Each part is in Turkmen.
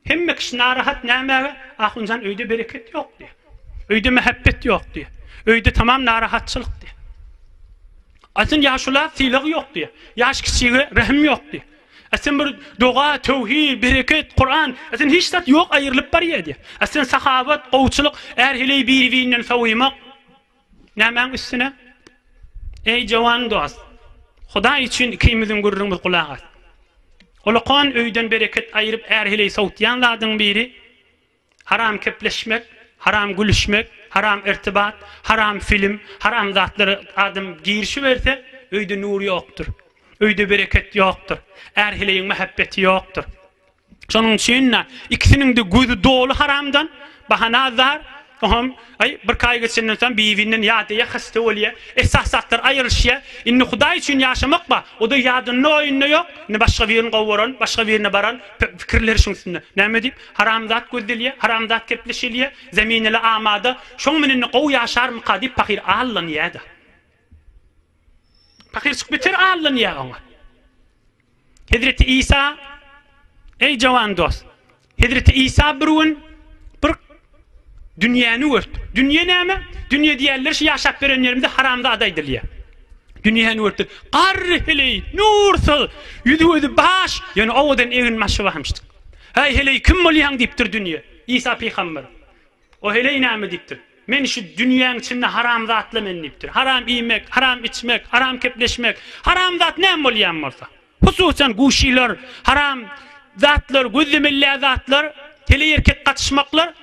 Hemme kişi narahat nämäge? Ahunjan öýde bereket ýok diýýär. Öýde mähebbet ýok diýýär. Öýde tamam narahatçylyk diýýär. Aýsyn ýaşula sylag ýok diýýär. Ýaş kiçige rehim ýok diýýär. Aýsyn bir doga, töwhid, bereket, Kuran, aýsyn hiç zat ýok aýrylyp barýar diýýär. Aýsyn sahabat, gowçulyk, är heleý biri-birinden sowumak. Nämäň üstüne? Eý, jowan dost, Hudaý üçin ikimiziň gürrüňimiz gulak as. Ulukon öýden bereket aýyryp är-heleý sowutýan zadyň biri, haram kepleşmek, haram gülüşmek, haram irtibat, haram film, haram zatlara adam girişiberse, öýde nur ýokdur. Öýde bereket ýokdur. Är-heleýiň mähebbeti ýokdur. Şonuň üçin-de ikisiniň-de gözi doly haramdan, bahana azar, oňam aý, birki aý geçenden soň bibinden ýadýa, hasta bolýa, esasy zatlar aýrylyşýa. Indi Hudaý üçin ýaşamak bar, o-da ýadynda-oýunda ýok. Indi başga birini gowaran, başga birine baran, pikirleri şuň üstünde. Näme diýip, haramzat gözdelýä, haramzat gepleşilýä, zemin-ele amada, şoň bilen-de gowy ýaşarmyka diýip pahyr allanýa-da. Pahyr çykyp geçer allanýar oňa. Hezreti Isa, Eý jowan dost, Hezreti Isa bir gün bir dünýäni gördi. Dünýe näme? Dünýe diýýärler şu ýaşap berenlerimize haramzada aýdylýar. Dünýäni gördi. Garry heleý, nursyz, ýüzi gözi baş, ýöne owadan egin-başy barmyşdyk. Häý heleý kim bolýaň diýipdir dünýe. Isa pygamber. O heleý näme diýipdir? Men şu dünýäň içinde haramzatla men diýipdir. Haram iýmek, haram içmek, haram kepleşmek, haramzat näme bolýan bolsa. Hususan guşylar, haram zatlar, gözlemeli läzatlar, heleý erkek gatyşmaklar.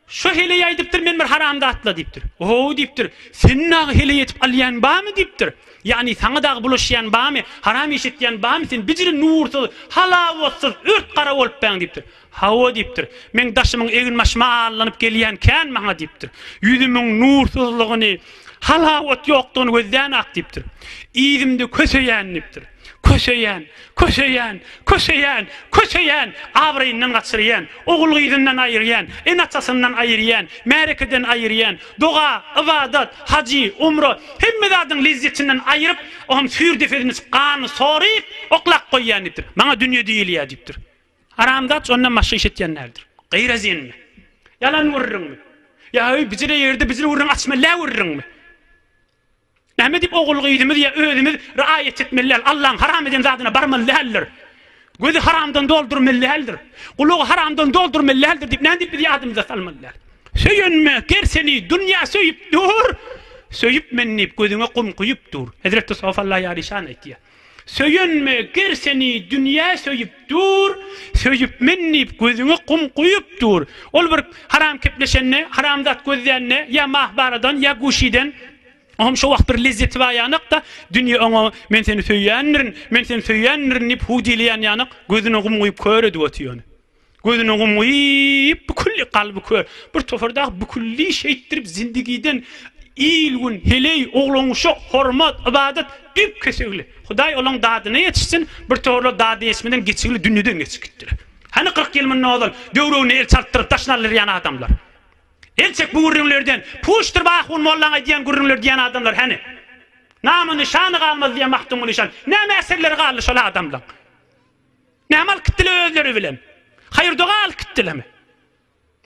Şu heleý aýdypdyr men bir haramzatla diýipdir. Ohow diýipdir. Seni dagy heleý edip alýan barmy diýipdir. Ýagny saňa dagy bulaşýan barmy, haram iş etýän barmy, sen bijiri nursyz, halawatsyz, ört gara bolupbaň diýipdir. Hawa, diýipdir. Meň daşymyň eginbaşyma allanyp gelýän kän maňa, diýipdir. Ýüzümiň nursyzlygyny, halawat ýokdugyny gözlän-ak, diýipdir. Yzymda köseýän, diýipdir. Köseýän, köseýän, köseýän, köseýän, abraýyndan gaçyrýan, ogul-gyzyndan aýyrýan, ene-atasyndan aýyrýan, märekeden aýyrýan, doga, ybadat, hajy, umra, hemme zadyň lezzetinden aýryp, oňam süýr depesini, ganyny soryp, oklap goýýan, diýipdir. Maňa dünýe diýilýär, diýipdir. Haramzat şondan başga iş etýän däldir. Gyýra zenmi? Ýalan gürrüňmi? Ýa-öý bijire ýerde bijire gürrüň açmella gürrüňmi? Näme diýip ogul-gyzymyz ýa özümiz raýat etmeli däl? Allaň haram eden zadyna barmaly däldir. Gözi haramdan doldurmaly däldir. Gulagy haramdan doldurmaly däldir diýip näme diýip biz ýadymyza salmaly däl? Söýenme, ger seni dünýä söýüp dur. Söýüpmen diýip gözüňe gum guýup dur. Hezreti Sofalla ýaryşan aýtýar. Söýenme, ger seni dünýä söýüp dur, Söýüp men diýip gözüňe gum guýup dur. Ol bir haram kepleşende, haram zat gözlände, ýa mahbaradan, ýa guşiden, o hem şo wagt bir lezzeti bar ýanak-da, dünýe oňa men seni söýýändirin, men seni söýýändirin diýip huw diýilýän ýanak, gözüne gum guýup kör edip otyr ony. Gözüne gum guýup, bükülli, kalby kör, bir topar dagy bükülli şeýtdirip zindigiden il-gün, heleý, oglan-uşak, hormat, ybadat, düýp-kesegli. Hudaý olaň dadyna ýetişsin, bir toparlar dady ýetişmeden geçigli dünýeden geçip gitdiler. Hany kyrk ýyl mundan ozal döwregine el çaltdyryp daşyny aldyrýan adamlar? El çek bu gürrüňlerden, puşdyryp ahun mollaň aýdýan gürrüňleri diýýän adamlar hany? Namy-nyşany galmaz diýýän Magtymguly şan. Näme äserleri galdy şol adamlaň? Näme alyp gitdiler özleri bilen? Haýyr-doga alyp gitdilermi?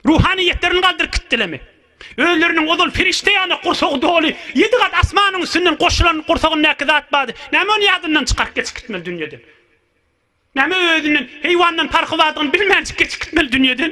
Ruhanyýetlerini galdyryp gitdilermi? Özleriniň ozal perişde ýaly gursagy doly, ýedi gat asmanyň üstünden goşulan gursagyndaky zat bady, näme ony ýadyndan çykaryp geçip gitmeli dünýeden? Näme özünden, heýwandan parhy bardygyny bilmänjik geçip gitmeli dünýeden?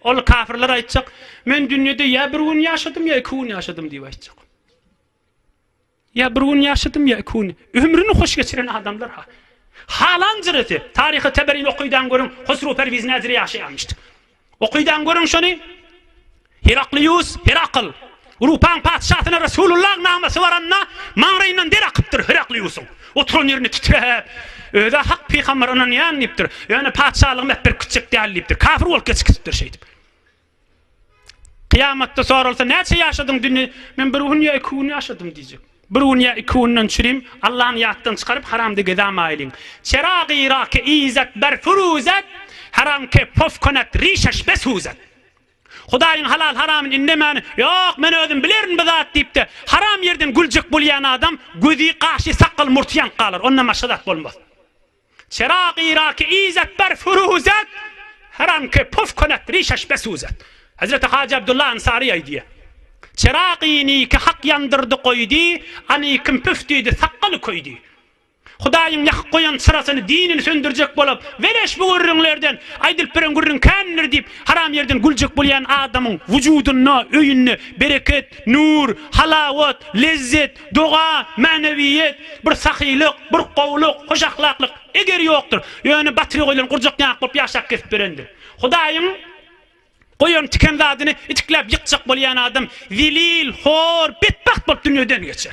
Ol kafirler aýtjak, Men dünýede ýa bir gün ýaşadym, ýa iki gün ýaşadym diýip aýtjak. Ýa bir gün ýaşadym, ýa iki gün. Ömrüni hoş geçiren adamlar ha. Halan jyrysy. Taryhy Teberini okydan görüň, Hosru Perwiz näzire ýaşaýamyşdy. Okydan görüň şony. Heraklius, Herakl. Rupaň patyşasyna Resulullah namasy baranda, maňraýyndan der akypdyr. Herakliusyň oturan ýerini titräp, Öz-ä hak pygambere ynanýan diýipdir. Ýöne patyşalygym äp-berk gitjek däl diýipdir. Kafir bolup geç gitipdir şeýdip. Kyýamatda soralsa, Näçe ýaşadyň dünýä? Men bir gün ýa iki gün ýaşadym diýjek. Bir gün ýa iki günden çürim, Allany ýatdan çykaryp, haramda gezämaýlyň. Çerag-y-rake izet ber furuzet, haramke pof konet rişeş be suzet. Hudaýyň halal-haramyny indemäni, Ýok, men özüm bilerin bu zat diýip-de, haram ýerden güljek bolýan adam gözi, gaşy, sakgaly, murty ýanyp galar, ondan başga zat bolmaz. Çera-gyra-ki izet ber furuzet, haram-ki puf kunet rişeş be suzet. Hezreti Hajy Abdullah Ansary aýdýar, Çera-gyny-ki hak ýandyrdy goýdy, any-kim püf diýdi, sakgaly köýdi. Hudaýyň ýakyp goýan çyrasyny dinini söndürjek bolup, weleş bu gürrüňlerden, aýdylyp beren gürrüň kändir diýip, haram ýerden güljek bolýan adamyň wujudynda, öýünde bereket, nur, halawat, lezzet, doga, mänewiýet, bir sahylyk, bir gowulyk, hoş ahlaklyk, eger ýokdur. Ýöne batyry goýlan gurjak ýaňak bolup ýaşap kesip berendir. Hudaýyň goýan tiken zadyny itikläp ýykjak bolýan adam zelil, hor, betbagt bolup dünýeden geçer.